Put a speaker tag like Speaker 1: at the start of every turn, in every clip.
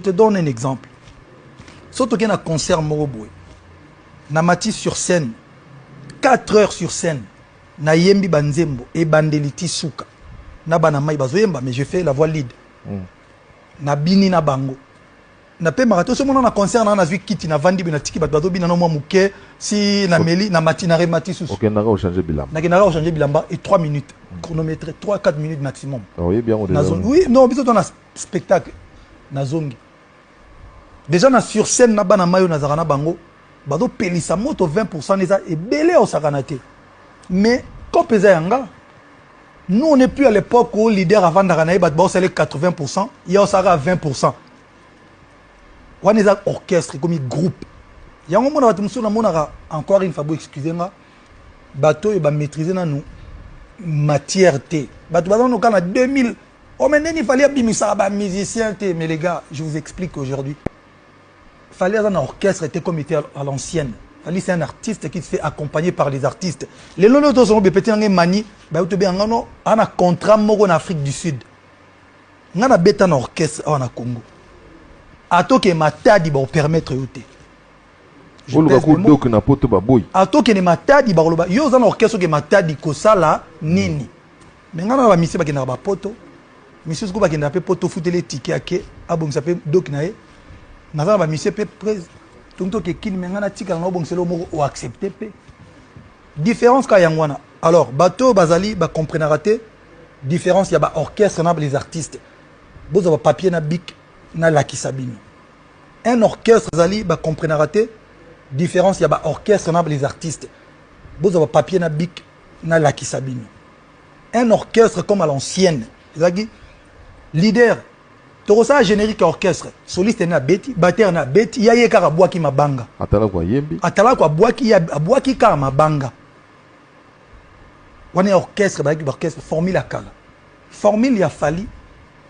Speaker 1: te donne un exemple soki tokei na concert moko boye na mati sur scène 4 heures sur scène nayembi banzembo ebandeli ti suka na bana mai bazoyemba mais je fais la voix lead mm. nabini na bango napemaka te osomona na concert na nazwi kiti navandi boye natiki bato bazobina na mwa moke si nameli na mati na remati susunakendaka
Speaker 2: ochange bilamba e
Speaker 1: 3 minutes chronométre 3 4 minutes maximum ah, oui
Speaker 2: non biso tona
Speaker 1: spectacle nazongi deja na sur scène na bana mayo nazalaka na bango bazopelisa moto 20 pourcent eza ebele ya osakana te mais cope eza ya nga nous on est plus à l'époque où leader avandaka na ye bato baosala 80 pourcent ye osalaka 20 pourcent wana eza orchestre ekomi groupe yango mona bato mosusu namonaka encore une fois bo excuse nga bato oyo bamaîtrise nanu matière te bato baza noka na 2000 Oh mais ndenge fallait abimisaka ba musiciens te mais les gars je vous explique aujourd'hui fallait aza na orchestre était comme était à l'ancienne fallait c'est un artiste qui se fait accompagner par les artistes les lolo to sont petit ngé mani ba yo to be ngano ana contrat moko na Afrique du Sud ngana beta na orchestre awa na Congo atoke matadi ba permettre yo te oluka kodoke na poto baboyi atokende matadi bakoloba yo oza na orchestre oke matadi kosala nini mm. Mais nga na ba misie bakendaka ba poto misie soko bakendaka pe poto ofuteli ye tike ake abongisa pe doki na ye naza na ba misie pe pres tongi toke kini me nga natikala na obongisela yo moko oaccepte pe différence kaka yango wana alors bato oyo bazali bacomprenaka te différence ya baorchestre na les artistes bozwa bapapier na bik nalakisa bino un orchestre ezali bacomprenaka te différence ya baorchestre na les artistes bozwa bapapier na bik na lakisa bino un orchestre comme à l'ancienne ezalaki leader tokosala générique ya orchestre soliste na abeti batteur na abeti ya ye kaka abwaki mabanga atalako ayembi
Speaker 2: atalako abwaki
Speaker 1: abwaki kaka mabanga wana ya orchestre bazalaki baorchestre formule ya kala formule ya fali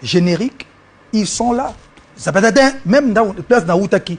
Speaker 1: générique ils sont là ça peut être même place na wutaki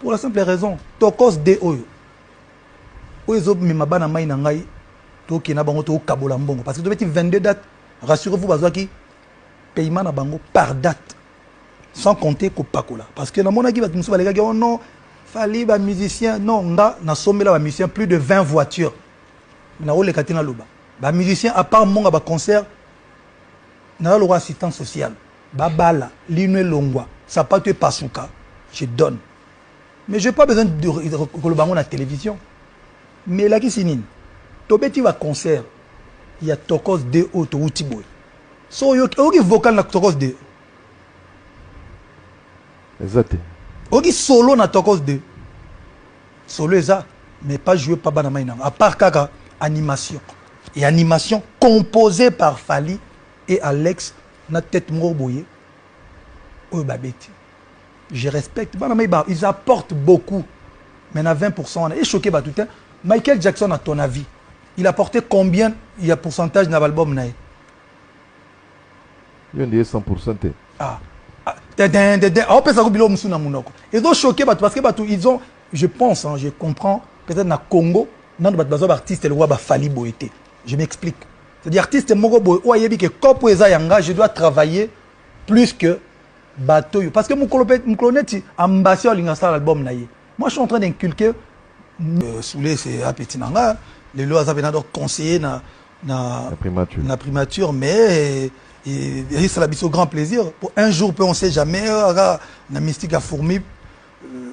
Speaker 1: pour la simple raison tokos de oyo oyo ezomema bana mai na ngai tokende na bango tokabola mbongo parce que tobeti 22 date rassurez vous bazwaki paiement na bango par date sans compter kopakola parce que namonaki bato mosusu balekaki oh non fali bamusicien non nga nasombela bamusicien plus de 20 voiture nakoleka te naloba bamusicien à part mbongo ya baconcert naza lokola assistance sociale babala lino elongwa sapatu epasuka je donne mais je pas besoin de koloba yango na télévision mais elakisi nini tobeti baconcert ya tokos 2 oyo towuti boye so oyoki vocal na tokos 2 eza
Speaker 2: te oyoki
Speaker 1: solo na tokos 2 solo eza mais pas joué pa bana mai nango à part kaka animation et animation composée par fali et alex na tete moko boye oyo babeti je respecte bana mai ba ils apportent beaucoup mais na 20 pourcent wana echoke bato te michael jackson à ton avis il apporte combien ya pourcentage na baalbum na ye
Speaker 2: yo nde ye 100 pourcent
Speaker 1: te ah aopesa ko biloko mosusu na monoko ezochoke bato parce que bato ils ont je pense hein, je comprends peut-être na congo nano bato bazwa baartiste lokwa bafali boye te je m'explique C'est-à-dire artiste moko boye oyo ayebi ke cop oyo eza yanga je dois travailler plus que bato oyo parce que mokolo pe mokolo neti ambassadeur alinga asala album na ye moi je suis en train d'inculquer euh, soule c'est apeti na nga lelo aza pena donc conseiller na na, na primature, na primature mais esala biso grand plaisir po un jour pe on sait jamais euh, aga na mystique ya fourmi euh,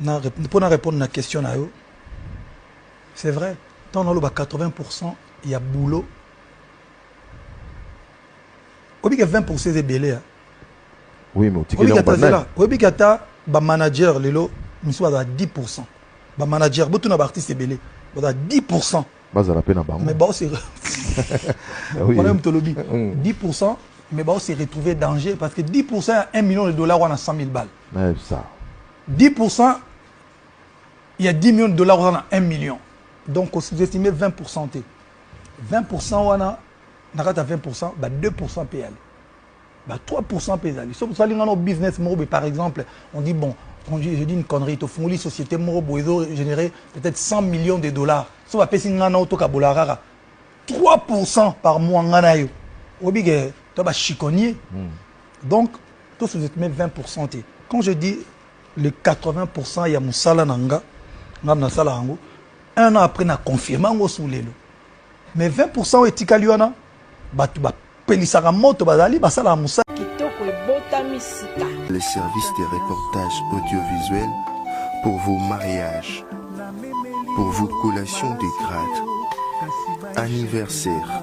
Speaker 1: Na mpo na repondre na question na yo, c'est vrai ntango naloba 80 pourcent ya boulot oyebi ke 20 pourcent eza ebele a oui,
Speaker 2: mais otikeli yango banani oyebi
Speaker 1: ke ata bamanager lelo misusu bazala 10 pourcent bamanager botuna baartiste ebele bazala 10 pourcent bazala mpe na bango mais bao se wana moto olobi 10 pourcent mais bao se retrouver danger parce que 10 pourcent ya 1 million de dollars wana 100 000 balles ça
Speaker 2: 10%
Speaker 1: ya 10 millions de dollars oza na 1 million donc osous-estime 20% te 20% wana na kati ya 20% ba 2% mpe yale ba 3% mpe ezali soki tosali ngana business moko boye par exemple on dit bon je dis une connerie tofungoli société moko boye ezo générer peut-être 100 millions de dollars so bapesi ngai na otokabola kaka 3% par mois ngai na yo oyebi ke to bachikonnier mm. Donc, tout ce 20% te. Quand je dis le 80% ya musala na nga, nga na sala yango, un an après na confirme yango sous lelo. Mais 20% etikali wana, batu ba
Speaker 3: pelisaka moto bazali basala musala. Kitoko ebotami sika. Les services de reportage audiovisuel pour vos mariages, pour vos collations de grades, anniversaires,